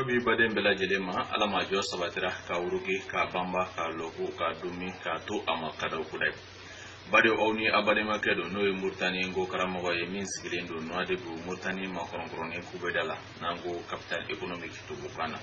bi baden bɛɛ lajɛlen ma ala ma jɔ sabatira ka wuruki k'a banba k'a lɔko k'a dumi k'a to a ma kadaw kudayi badenw aw ni a badenmakɛ don n'o ye muritani nko karamɔgɔ ye min sigilen don nouadhibou muritani makɔrɔnkɔrɔnin kubeda la n'an ko capitale économique tubukan na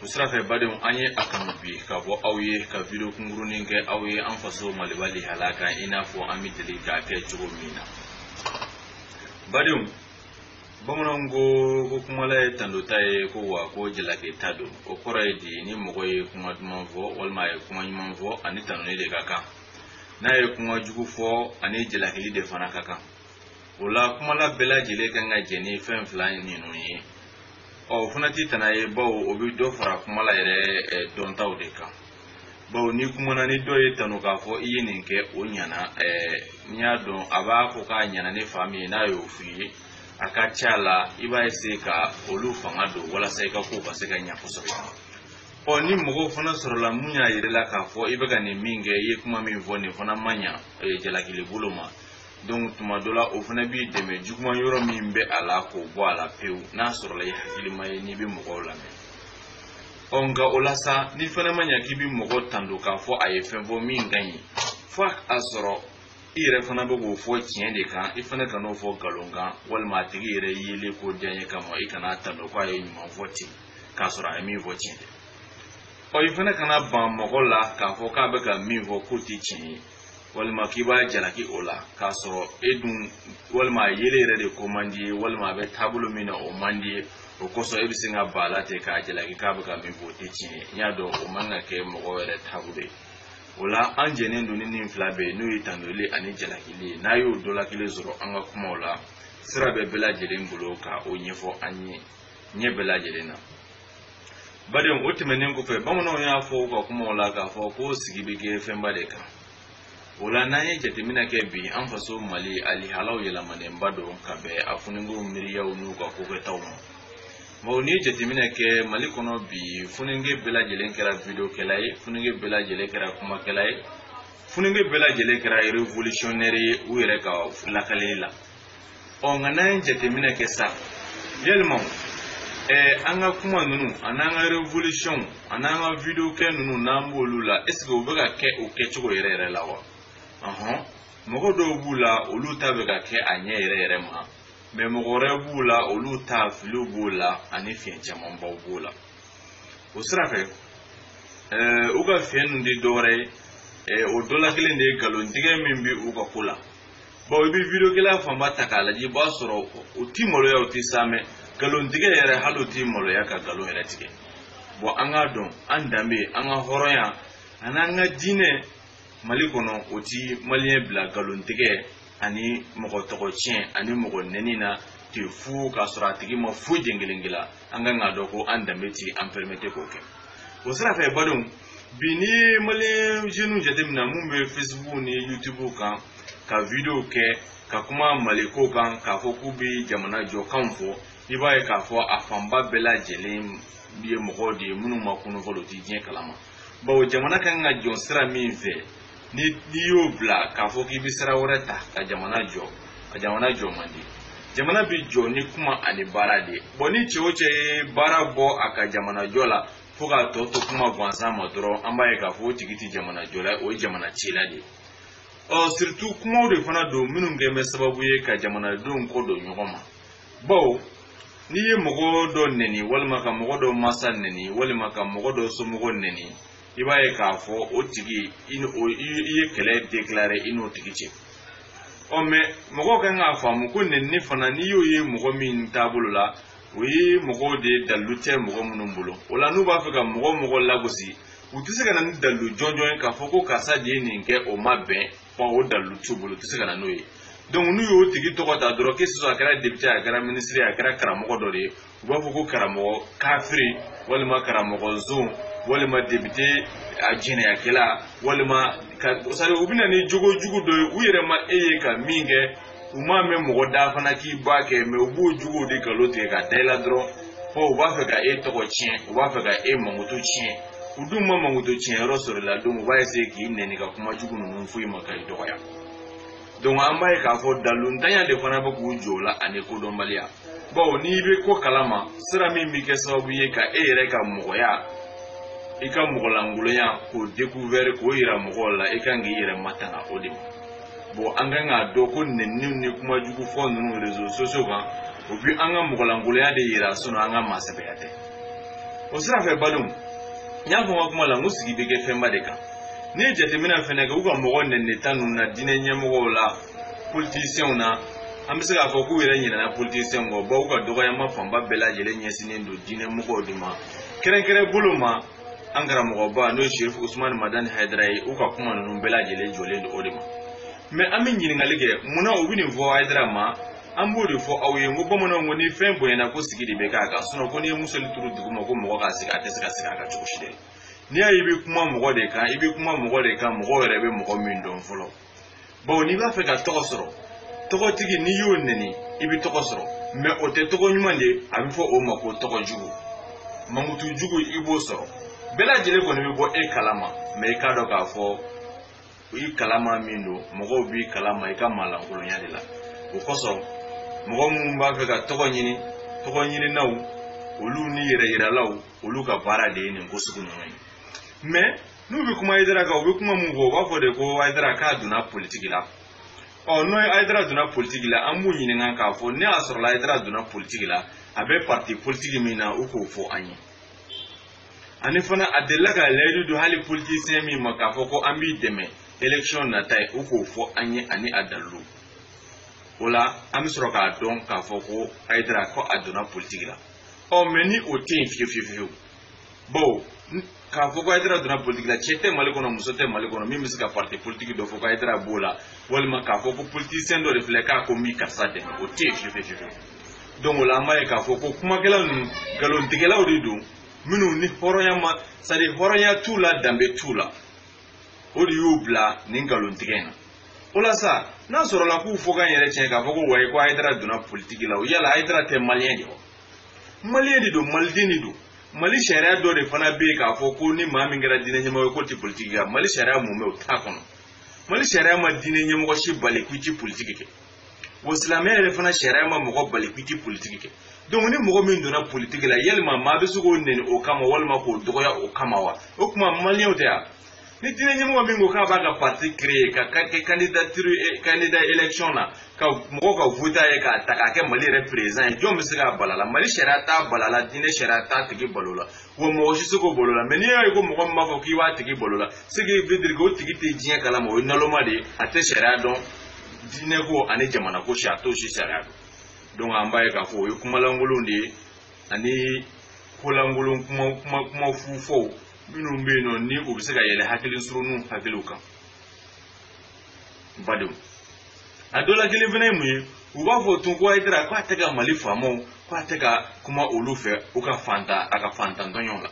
o sira fɛ badenw an ye a kanu bi ka bɔ aw ye ka video kunkurunin kɛ aw ye an faso maliba lihala kan i n'a fɔ an bɛ deli k'a kɛ cogo min na badenw bamananw ko ko kumala ye tandota ye ko wa ko jalakita don o kɔrɔ ye di ni mɔgɔ ye kuma duman fɔ walima a ye kuma ɲuman fɔ a ni tanuni de ka kan n'a ye kuma jugu fɔ a ni jalakili de fana ka kan o la kumala bɛɛ lajɛlen kan ka jɛn ni fɛn fila ninnu ye ɔ o fana tɛ tana ye bawo o bɛ dɔ fara kumala yɛrɛ dɔntaw de kan bawo n'i kumana ni dɔ y'i tanu k'a fɔ i ye nin kɛ o ɲana n'i y'a dɔn a b'a fɔ k'a ɲana ni fan min ye n'a y'o f'i ye a ka ca la i b'a essayer ka olu fanga don walasa i ka kow bɛ se ka ɲa kosɛbɛ ɔ ni mɔgɔw fana sɔrɔla mun y'a yira i la k'a fɔ i bɛ ka nin min kɛ i ye kuma min fɔ nin fana ma ɲa jalakili bolo ma donc tuma dɔ la o fana b'i dɛmɛ juguman yɔrɔ min bɛ a la k'o bɔ a la pewu n'a sɔrɔla i hakilima ye n'i bɛ mɔgɔw lamɛn ɔ nka o la sa nin fana ma ɲa k'i bi mɔgɔ tando k'a fɔ a ye fɛn fɔ min ka ɲi fo a sɔrɔ i yɛrɛ fana bɛ k'o fɔ tiɲɛ de kan i fana kan'o fɔ nkalon kan walima a tigi yɛrɛ yelen ko diyanye kama i kana tando ko a ye ɲuman fɔ ten k'a sɔrɔ a ye min fɔ tiɲɛ tɛ ɔ i fana kana ban mɔgɔ la k'a fɔ k'a bɛ ka min fɔ k'o tɛ tiɲɛ ye walima k'i b'a jalaki o la k'a sɔrɔ e dun walima a yelen yɛrɛ de ko man d'i ye walima a bɛ taabolo min na o man d'i ye o kosɔn e bɛ sin ka ban a la ten k'a jalaki k'a bɛ ka min fɔ o tɛ tiɲɛ ye n'i y'a dɔn o man ka kɛ mɔgɔ yɛrɛ taabolo ye o la an jɛnnen don ni nin fila bɛɛ ye n'o ye tandoli ani jalakili ye n'a y'o dɔ la kelen sɔrɔ an ka kumaw la sira bɛ bɛɛ lajɛlen bolo ka o ɲɛfɔ an ye ɲɛ bɛɛ lajɛlen na badenw o tɛmɛnen kɔfɛ bamananw y'a fɔ u ka kumaw la k'a fɔ ko sigi bɛ kɛ fɛnba de kan o la n'an ye jateminɛ kɛ bi an faso mali alihalaw yɛlɛmanenba don ka bɛn an funikew miiriyaw n'u ka kokɛtaw ma bawo n'i ye jateminɛ kɛ mali kɔnɔ bi funike bɛɛ lajɛlen kɛra videokɛla ye funike bɛɛ lajɛlen kɛra kumakɛla ye funike bɛɛ lajɛlen kɛra revolutionnaire ye u yɛrɛ ka lakalili la ɔ nka n'an ye jateminɛ kɛ sa yalima ɛɛ an ka kuma ninnu an'an ka revolution an'an ka video kɛ ninnu n'an b'olu la est ce que o bɛ ka kɛ o kɛcogo yɛrɛ yɛrɛ la wa ɔhɔn mɔgɔ dɔw b'u la olu ta bɛ ka kɛ a ɲɛ yɛrɛ yɛrɛ ma mais mɔgɔ wɛrɛ b'u la olu ta filiw b'o la ani fiɲɛ camanbaw b'o la o sira fɛ ɛɛ u ka fiɲɛ ninnu tɛ dɔwɛrɛ ye o dɔ la kelen de ye nkalontigɛ min bɛ u ka ko la bɔn i bɛ vidiyokɛla fanba ta k'a lajɛ i b'a sɔrɔ u ti maloya u ti saamɛ nkalontigɛ yɛrɛ hali u ti maloya ka nkalon yɛrɛ tigɛ bɔn an k'a dɔn an danbe an ka hɔrɔnya ani an ka diinɛ mali kɔnɔ o ti maliyɛn bila nkalontigɛ ani mɔgɔ tɔgɔ tiɲɛ ani mɔgɔ nɛni na ten fu k'a sɔrɔ a tigi ma foyi jen kelen kɛ i la an kan k'a dɔn ko an danbe ti an pɛrɛmete k'o kɛ o sira fɛ badenw bi n'i ye maliyɛn jeniw jateminɛ min bɛ facebook ni youtube kan ka video kɛ ka kuma maliko kan k'a fɔ k'u bɛ jamana jɔkan fɔ i b'a ye k'a fɔ a fanba bɛɛ lajɛlen ye mɔgɔw de ye minnu ma kunun fɔlɔ u tɛ diɲɛ kalama bawo jamana kan ka jɔ sira min fɛ n'i y'o bila k'a fɔ k'i bɛ sira wɛrɛ ta ka jamana jɔ a jamana jɔ man di jamana bɛ jɔ ni kuma ani baara de ye bɔn ni cɛ o cɛ ye baara bɔ a ka jamana jɔ la fo k'a tɔ to kuma gansan ma dɔrɔn an b'a ye k'a fɔ o tigi tɛ jamana jɔla ye o ye jamana cila de ye ɔ siritu kumaw de fana don minnu kɛlen bɛ sababu ye ka jamanadenw kɔ don ɲɔgɔn ma bawo n'i ye mɔgɔ dɔ nɛni walima ka mɔgɔ dɔ masa nɛni walima ka mɔgɔ dɔ somɔgɔ nɛni i b'a ye k'a fɔ o tigi i ye kɛlɛ dekilare i n'o tigi cɛ ɔ mɛ mɔgɔw kan k'a faamu ko nɛnini fana n'i y'o ye mɔgɔ min taabolo la o ye mɔgɔw de ye dalilu tɛ mɔgɔ minnu bolo wala n'u b'a fɛ ka mɔgɔ o mɔgɔ lagosi u tɛ se ka na ni dalilu jɔnjɔn ye k'a fɔ ko karisa de ye nin kɛ o ma bɛn bɔn o dalilu t'u bolo u tɛ se ka na n'o ye donc n'u y'o tigi tɔgɔ ta dɔrɔn que ce soit a kɛra depite a kɛra minisiri a kɛra karamɔgɔ dɔ de ye u b'a fɔ ko karamɔgɔ kafiri walima karamɔgɔ zon walima depite a jɛnɛyakɛla walima ka sari u bɛ na ni jogo jugu dɔ ye u yɛrɛ ma e ye ka min kɛ u m'a mɛn mɔgɔ da fana k'i b'a kɛ mɛ u b'o jogo de nkalon tigɛ ka da i la dɔrɔn fɔ u b'a fɛ ka e tɔgɔ tiɲɛ u b'a fɛ ka e mankutu tiɲɛ u dun ma mankutu tiɲɛ yɔrɔ sɔrɔ i la donc u b'a eseye k'i nɛni ka kuma jugu ninnu fɔ i ma ka i dɔgɔya donc an b'a ye k'a fɔ daliluntanya de fana bɛ k'u jɔ o la ani kodɔnbaliya bawo n'i bɛ ko kalama sira min bɛ kɛ sababu ye ka e yɛrɛ ka mɔgɔya i ka mɔgɔlankolonya k'o dekuvɛri k'o yira mɔgɔw la i kan k'i yɛrɛ matanga o de ma bɔn an kan k'a dɔn ko nɛniniw ni kuma jugu fɔ ninnu rezo sosiyo kan o bi an ka mɔgɔlankolonya de yira sinɔn an ka maasɛbɛya tɛ o sira fɛ badenw n y'a fɔ n ka kuma la n ko sigi bɛ kɛ fɛnba de kan n'i ye jateminɛ fɛnɛ kɛ u ka mɔgɔ nɛnini ta ninnu na diinɛ ɲɛmɔgɔw la politisiyɛnw na an bɛ se k'a fɔ k'u yɛrɛ ɲinɛna politisiyɛnw kɔ bawo u ka dɔgɔyama fanba bɛɛ lajɛlen ɲɛsinnen don diinɛ mɔgɔw de ma kɛrɛnkɛrɛn bolo ma an karamɔgɔba n'o ye sherifu usumani madani hayidara ye u ka kuma ninnu bɛɛ lajɛlen jɔlen don o de ma mɛ an bɛ ɲininkali kɛ mun na u bɛ nin fɔ hayidara ma an b'o de fɔ aw ye n ko bamananw ko ni fɛn bonyana ko sigi de bɛ k'a kan sinɔn ko n'i ye miseli turu duguma ko mɔgɔ k'a sigi a tɛ se ka sigi a kan cogo si dɛ n'i y'a ye i bɛ kuma mɔgɔ de kan i bɛ kuma mɔgɔ de kan mɔgɔ yɛrɛ bɛ mɔgɔ min dɔn fɔlɔ bawo n'i b'a fɛ ka tɔgɔ sɔrɔ tɔgɔtigi n'i y'o neni i bɛ tɔgɔ sɔrɔ mais o tɛ tɔgɔ ɲuman de a bɛ fɔ o ma ko tɔgɔ jugu mankutu jugu i b'o sɔrɔ bɛɛ lajɛlen kɔni bɛ bɔ e kalama mais i k'a dɔn k'a fɔ i kalama min don mɔgɔw b'i kalama i ka maalankolonya de la o kosɔn mɔgɔ minnu b'a fɛ ka tɔgɔ ɲini tɔgɔ ɲininaw olu ni yɛrɛ yiralaw olu ka baara de ye nin ko sugu ninnu ye mais n'u bɛ kuma hayidara kan u bɛ kuma mun fɔ u b'a fɔ de ko hayidara k'a donna politiki la ɔ n'o ye hayidara donna politiki la an b'u ɲininka k'a fɔ n'a sɔrɔla hayidara donna politiki la a bɛ parti politiki min na u k'o fɔ an ye ani fana a delila ka layidu don hali politisiyɛn min ma k'a fɔ ko an b'i dɛmɛ élection nata ye u k'o fɔ an ye ani a dalilu o la an bɛ sɔrɔ k'a dɔn k'a fɔ ko hayidara ko a donna politiki la ɔ mais ni o tɛ yen fiyewu fiyewu bon k'a fɔ ko hayidara donna politiki la cɛ tɛ mali kɔnɔ muso tɛ mali kɔnɔ min bɛ se ka parti politiki dɔ fɔ ko hayidara b'o la walima k'a fɔ ko politisiyɛn dɔ de filɛ k'a ko n b'i karisa dɛmɛ o tɛ yen fiyewu fiyewu donc o la an b'a ye k'a fɔ ko kumakɛla ninnu nkalontigɛlaw de don minnu ni hɔrɔnya ma c'est à dire hɔrɔnya t'u la danbe t'u la o de y'u bila nin nkalontigɛ in na o la sa n'a sɔrɔla k'u fɔ k'an yɛrɛ tiɲɛ k'a fɔ ko wayi ko hayidara donna politiki la o yala hayidara tɛ maliyɛn de wa maliyɛn de don maliden de don mali sariya dɔ de fana bɛ yen k'a fɔ ko ni maa min kɛra diinɛ ɲɛmɔgɔ ye k'o tɛ politiki kɛ mali sariya mumɛ o t'a kɔnɔ mali sariya ma diinɛ ɲɛmɔgɔ si bali k'i ti politiki kɛ wa silamɛya yɛrɛ fana sariya ma mɔgɔ bali k'i ti politiki kɛ donc ni mɔgɔ min donna politiki la yalima maa bɛ se k'o neni o kama walima k'o dɔgɔya o kama wa o tuma maliyɛnw tɛ yan ni diinɛ ɲɛmɔgɔ min ko k'a b'a ka parti créer ka kɛ candidature eh, candidat élection na ka mɔgɔw ka voter a ye k'a ta k'a kɛ mali yɛrɛ président ye jɔn bɛ se k'a bal'a la mali sariya t'a bal'a la diinɛ sariya t'a tigi bal'o la wa mɔgɔ si se k'o bal'o la mais n'i y'a ye ko mɔgɔ min b'a fɔ k'i b'a tigi bal'o la ce qui veut dire que o tigi tɛ diɲɛ kalama o ye naloma de ye a tɛ sariya dɔn diinɛ ko ani jamana ko si a t'o si sariya dɔn donc an b'a ye k'a fɔ o ye kuma lankolon de ye ani kolankolon kuma kuma kuma fu fɔw minnu bɛ yen nɔ ni u bɛ se ka yɛlɛ hakili surunninw hakiliw kan badenw a dɔ la kelen fana ye mun ye u b'a fɔ tun ko hayidara k'a tɛ ka mali faamaw k'a tɛ ka kuma olu fɛ u ka fantan a ka fantan tɔɲɔ la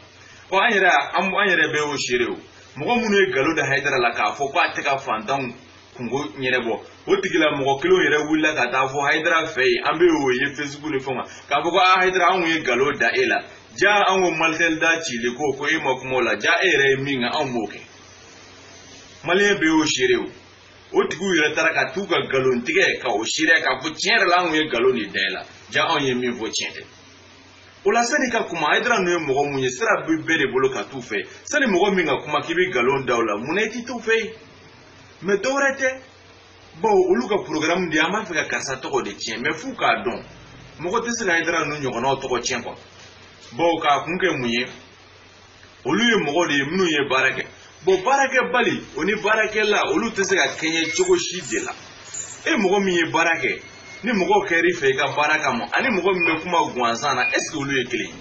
ɔ an yɛrɛ an yɛrɛ bɛɛ y'o seere o mɔgɔ minnu ye nkalon da hayidara la k'a fɔ k'a tɛ ka fantanw kungo ɲɛnabɔ o tigila mɔgɔ kelenw yɛrɛ wulila ka t'a fɔ hayidara fɛ yen an bɛ o ye fesibuku ni fɛnw kan k'a fɔ ko a hayidara anw ye nkalon da e la ja an ko malitɛli da cili ko ko e ma kuma o la ja e yɛrɛ ye min kɛ anw b'o kɛ maliyɛn bɛɛ y'o seere o o tigiw yɛrɛ taara ka t'u ka nkalon tigɛ ka o seereya k'a fɔ tiɲɛ yɛrɛ la anw ye nkalon de da e la ja anw ye min fɔ tiɲɛ tɛ o la sani ka kuma hayidara ninnu ye mɔgɔ mun ye sira bɛ bɛɛ de bolo ka t'u fɛ sani mɔgɔ min ka kuma k'i bɛ nkalon da o la mun na i tɛ t'u fɛ yen mɛ dɔwɛrɛ tɛ bawo olu ka porogaramu de ye an b'a fɛ ka karisa tɔgɔ de tiɲɛ mɛ f'u k'a dɔn mɔgɔ tɛ se ka ayidara ninnu ɲɔgɔnnaw tɔgɔ tiɲɛ kuwa bawo k'a kun kɛ mun ye olu ye mɔgɔ de ye minnu ye baara kɛ bon baarakɛbali o ni baarakɛla olu tɛ se ka kɛɲɛ cogo si de la e mɔgɔ min ye baara kɛ ni mɔgɔw kɛr'i fɛ i ka baara kama ani mɔgɔ min bɛ kuma gansan na ɛseke olu ye kelen ye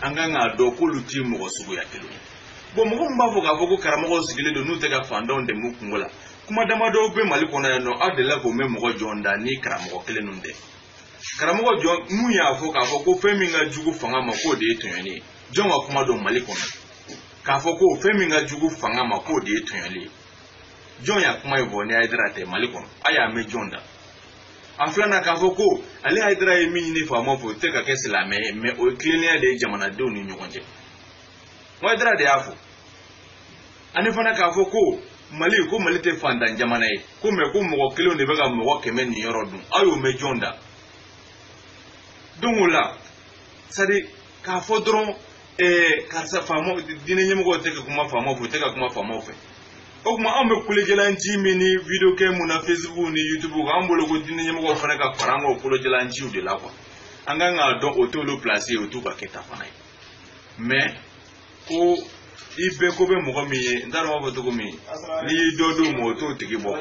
an kan k'a dɔn k'olu tɛ mɔgɔ suguya kelen ye bon mɔgɔ min b'a fɔ k'a fɔ ko karamɔgɔw sigilen don n'u tɛ ka fantanw dɛmɛ u kungo la kuma damadɔw bɛ mali kɔnɔ yan nɔ aw delila k'o mɛn mɔgɔ jɔn da ni karamɔgɔ kelen ninnu tɛ karamɔgɔ jumɛn y'a fɔ k'a fɔ ko fɛn min ka jugu fanga ma k'o de ye tɔɲɔli ye jɔn ka kuma don mali kɔnɔ k'a fɔ ko fɛn min ka jugu fanga ma k'o de ye tɔɲɔli ye jɔn y'a kuma ye fɔ ni ayidara tɛ mali kɔnɔ a y'a mɛn jɔn da a filanan k'a fɔ ko ale ayidara ye min ɲini faamaw fɛ o tɛ ka kɛ silamɛ ye mɛ o ye tilennenya de ye jamanadenw ni ɲɔgɔn cɛ ayidara de y'a fɔ ani fana k'a fɔ ko mali ko mali tɛ fantan jamana ye ko mɛ ko mɔgɔ kelenw de bɛ ka mɔgɔ kɛmɛ niyɔrɔ dun aw y'o mɛn jɔn da dɔnki o la sadi k'a fɔ dɔrɔn ɛɛ karisa faamaw diinɛ ɲɛmɔgɔw tɛ ka kuma faamaw fɛ u tɛ ka kuma faamaw fɛ o tuma anw bɛ kolojɛlanci min ni video kɛ mun na facebook ni youtube kan an bolo ko diinɛ ɲɛmɔgɔw fana ka fara an ka o kolojɛlanciw de la kuwa an kan k'a dɔn o t'olu pilasi ye o t'u ka kɛta fana ye mɛ ko i bɛɛ ko bɛ mɔgɔ min ye n t'a dɔn b'a fɔ cogo min n'i y'i dɔ d'o ma o t'o tigi bɔ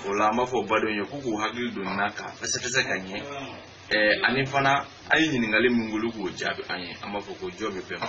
o la an b'a fɔ badenw ye k'u k'u hakili don nin na ka fɛsɛfɛsɛ ka ɲɛ ɛɛ ani fana an ye ɲininkali min k'olu k'o jaabi an ye an b'a fɔ ko jɔ bɛ bɛɛ ma